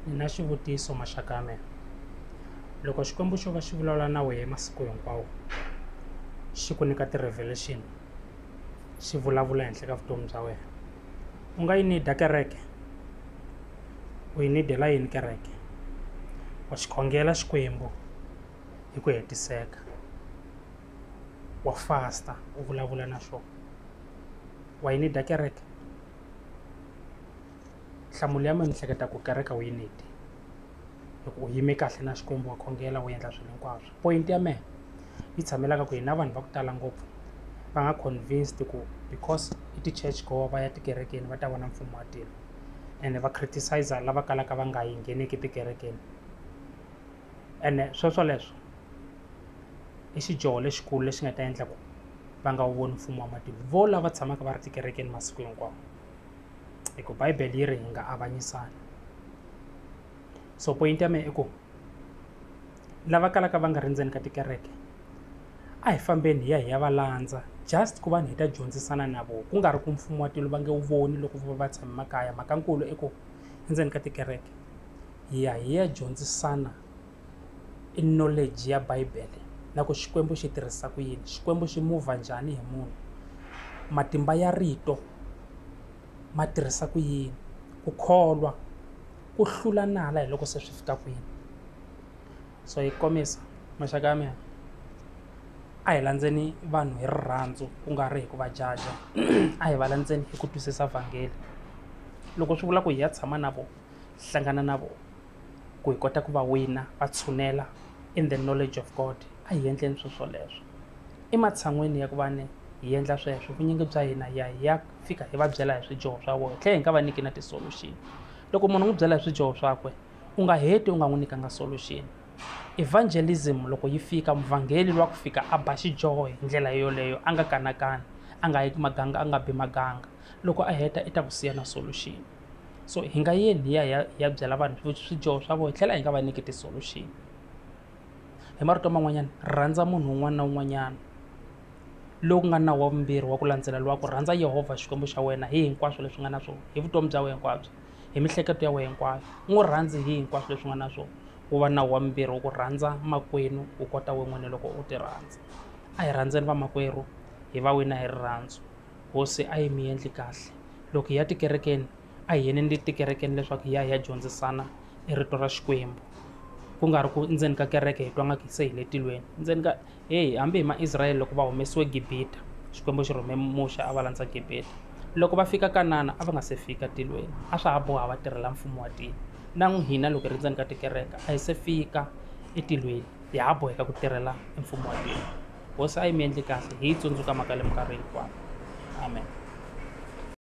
ni na xivutiso maxaka ya mina loko xikwembu xo va xi vulavula na wehe masiku hinkwawo xi ku nyika ti-revelation xi vulavula henhla ka vutomi bya wena u nga yi nida kereke u yi nidela yini kereke wa xi khongela xikwembu hi ku hetiseka wa fasta u vulavula na xona wa yi nida kereke nhlamulo ya mina ni hleketa ku kereke u yi need hi ku u yime kahle na Xikwembu wa khongela u endla swilo hinkwaswo point ya mehe yi tshamelaka ku hina vanhu va ku tala ngopfu va nga convinced ku because i ti-church goer va ya tikerekeni va ta vona mfumo wa tilo ene va criticiser lava kalaka va nga yi ngheneki tikerekeni. ene swoswoleswo i xidyoho lexikulu lexi nga ta endla ku va nga wu voni mfumo wa matimu vo lava tshamaka va ri tikerekeni masiku hinkwawo hi ku bibele yi ri hi nga avanyisani so point ya mehe i ku lava kalaka va nga ri ndzeni ka tikereke a hi fambeni hi ya hi ya va landza just ku va ni hi ta dyondzisana na vona ku nga ri ku mfumo wa tilo va nge wu voni loko va va tshame makaya mhaka nkulu i ku endzeni ka tikereke hi ya hi ya dyondzisana i knowledge ya bibele na ku xikwembu xi tirhisa ku yini xikwembu xi muvha njhani hi munhu matimba ya rito ma tirhisa ku yini ku kholwa ku hlula nala hi loko se swi fika kwini so hi kombisa maxaka ya mina a hi landzeni vanhu hi rirhandzu ku nga ri hi ku va jaja a hi va landzeni hi ku twisisa vhangeli loko swi vula ku hi ya tshama na vona hlangana na vona ku hi kota ku va wina va tshunela in the knowledge of god a hi endleni swilo swoleswo ematshan'weni ya ku va ni hi endla sweswo vunyingi bya hina hi ya hi ya fika hi va byela hi swidyoho swa vona hi tlhela hi nga va nyiki na ti-solution loko munhu u n'wi byela hi swidyoho swakwe u nga heti u nga n'wi nyikanga solution evangelism loko yi fika muvhangeli wa ku fika a ba xidyoho hi ndlela yoleyo a nga kanakani a nga yeki maganga a nga bi maganga loko a heta i ta ku siya na solution so hi nga yeni hi ya hi ya hi ya byela vanhu swidyoho swa vona hi tlhela hi nga va nyiki ti-solution hi marito man'wanyana rhandza munhu un'wana na un'wanyana lowu ku nga nawu wa vumbirhi wa ku landzela lowa ku rhandza yehovha xikwembu xa wena hi hinkwaswo leswi nga na swona hi vutomi bya wena hinkwabyo hi mihleketo ya wena hinkwayo u n'wi rhandzi hi hinkwaswo leswi nga na swona wu va nawu wa mimbirhi wa ku rhandza makwenu u kota we n'wini loko u ti rhandza a hi rhandzeni vamakwerhu hi va wina hi rirhandzu hosi a yi mi endli kahle loko hi ya tikerekeni a hi yeneni tikerekeni leswaku hi ya hi ya dyondzisana e rito ra xikwembu ku nga ri ku ndzeni ka kereke hi twa nga ku se hi le tilweni ndzeni ka Heyi, hambi hi Maisrayele loko va humesiwe Gibita, Xikwembu xi rhume Muxe a va landza Gibita. Loko va fika Kanana, a va nga se fika tilweni. A swa ha boha va tirhela Mfumo wa tilo. Na n'wihina loko hi ri ndzeni ka tikereke, a hi se fika etilweni, ha ha boheka ku tirhela Mfumo wa tilo. Hosi a yi mi endli kahle, hi yi tsundzuka mhaka leyi minkarhi hinkwayo. Amen.